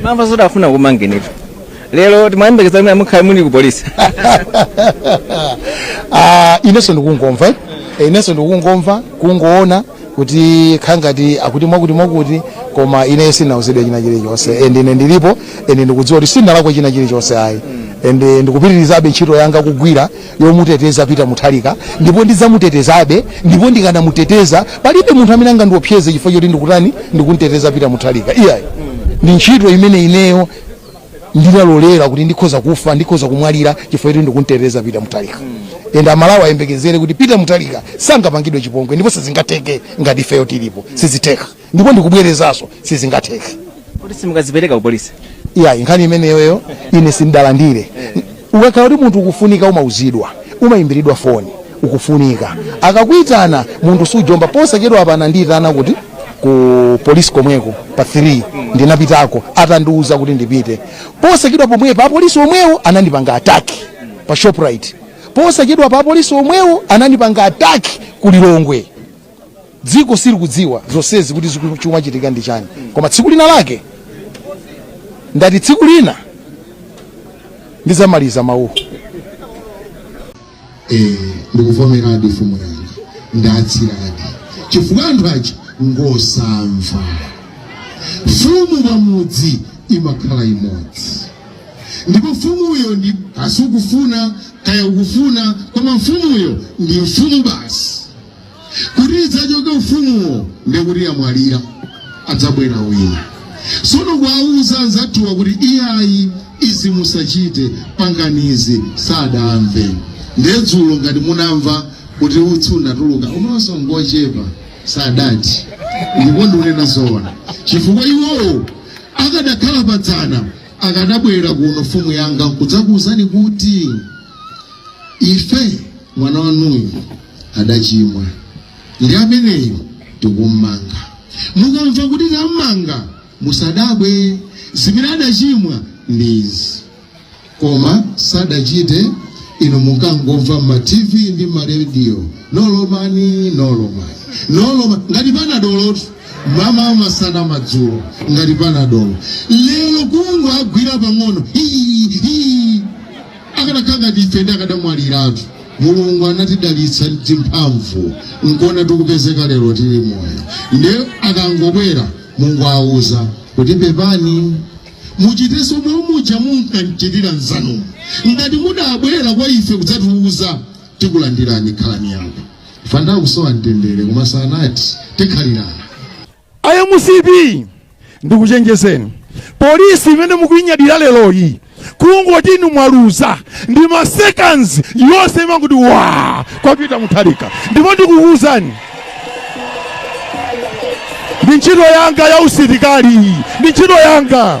mamva zoti afuna akumangeni lero timayembekeza kuti mukhale muli ku polisi Ah, inenso ndikungomva eh? Eh, inenso ndikungomva kungoona kuti khangati akuti mwakuti mwakuti koma ine sinauzidwe china chilichonse and ine ndilipo and ndikudziwa kuti sinalakwe china chilichonse ayi and eh, ndikupitirizabe ntchito yanga kugwira yomuteteza Peter Mutharika ndipo ndidzamutetezabe ndipo ndikanamuteteza palibe munthu amene angandiopseze chifukwa choti ndikutani ndikunteteza Peter Mutharika iyayi ndi ntchito imene ineyo ndinalolera kuti ndikhoza kufa ndikhoza kumwalira chifukwa choti ndikunteteza Peter Mutharika ende aMalawi ayembekezere kuti Peter Mutharika sangapangidwe chipongwe ndipo sizingatheke ngati ifeyo tilipo sizitheka ndipo ndikubwerezanso sizingatheke kuti simukadzipereka kupolisi iyayi nkhani imeneyoyo ine sindalandire ukakhala kuti munthu ukufunika umauzidwa umayimbiridwa foni ukufunika akakuitana munthu sujomba posachedwapa anandiyitana kuti ku polisi komweko pa 3 ndinapitako atandiuza kuti ndipite posachedwa pomwepa apolisi omwewo anandipanga ataki pa shoprite posachedwapa apolisi omwewo anandipanga ataki ku lilongwe dziko silikudziwa zonsezi kuti chikumachitika ndi chani koma tsiku lina lake ndati tsiku lina ndizamaliza mawuwo eh, ndikuvomeradi mfumu yanga ndatsiradi chifukwa anthu aja ngosamva mfumu pamudzi imakhala imodzi ndipo mfumuyo ndi basi sukufuna kaya ukufuna koma mfumuyo ndi mfumu basi kuti idzachoke ufumuwo ndekuti yamwalira adzabwera wina sono kuwauza anzathuwa kuti iyayi izi musachite panganani izi sadamve ndedzulo ngati munamva kuti utsi unatuluka umaso ngochepa sadati ndipo ndikunena zoona chifukwa iwowo akadakhala padzana akadabwera kuno mfumu yanga nkudzakuwuzani kuti ife mwana wanuyu adachimwa ndi ameneyu tikummanga mukamva kuti tammanga musadabwe zimene adachimwa ndi izi koma sadachite inu mukangomva mma tv ndi ma radio nolomani nolomani nolomani ngati panadolo mmawa masana madzulo ngati panadolo lero kungowagwira pang'ono hii hii akanakhala ngati ife ndi akadamwaliratu mulungu anatidalitsa ndi mphamvu nkuona tikupezeka lero tili moyo nde akangobwera mungowauza kuti pepani muchitenso momwe muja munkanchitira nzanu ngati mudabwera kwa ife kudzatiuza tikulandirani khalani akufa ndi kusowa mtendere koma sanati tikhalirana a mcp ndikuchenjezeni polisi imene mukuinyadira leroyi kungoti inu mwaluza ndi ma seconds yonse imanguti wa kwa Peter Mutharika ndipo ndikukuuzani ndi ntchito yanga ya usilikali ndi ntchito yanga